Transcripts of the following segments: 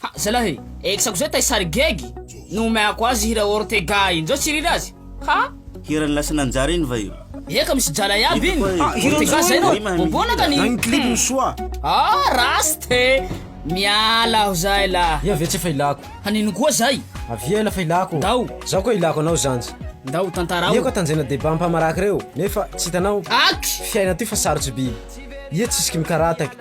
Ha, zalah e, exako zay tay sary gegy no omeako azy hira Ortega iny zao tsy rira azy. Ha! Hiran'i lasa nanjary iny va io? Ia ka misy jala iaby iny. Ah, hiran'i Ortega zay no bobona ka ny. Zagny clip ny soa. Ah, rasta e. Miala aho zay lah. Ia ve tsy efa ilako. Hanino koa zay. Avia ela fa ilako. Ndao. Zaho koa ilako anao zanja. Ndao tantarao. Ia ka tanjena deba ampamaraka reo nefa tsy hitanao. Aky. Fiaina ty fa sarotsy biby. Ia tsisy ky mikarataka.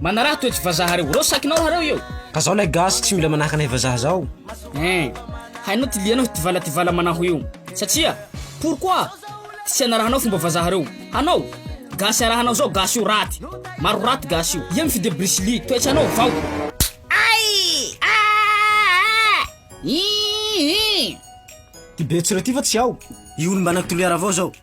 Manaraha toetry vazaha reo. Reo sakinao raha reo eo. Ka zao lay gasy tsy mila manahaka anay vazaha zao. Hein. Hainao ty lianao tivala tivala manaho io. Satria? Pourquoi? Tsy anarahanao fomba vazaha reo. Hanao? Gasy arahanao zao gasy io raty. Maro raty gasy io. Ia mi fide brisili. Toetra anao vao. Ty betso reo ty fa tsy ao. Io olo mba natolera avao zao.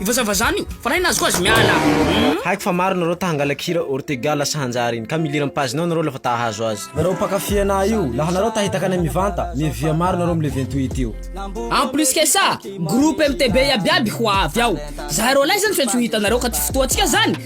Ivazavazana io fa raha iny azoko azy miala umm. Haiko fa maro nareo ta hangalaka hira Ortega lasa hanjary iny ka miliran'ny page nao nareo lafa ta hahazo azy. Nareo mpakafy anah io, laha nareo ta hitaka anay mivanta, miavia maro nareo amle vingt huit io. En plus que ça, groupe MTB iabiaby ho avy ao. Zahay roalahy zany fe tsy ho hitanareo ka ty fotoantsika zany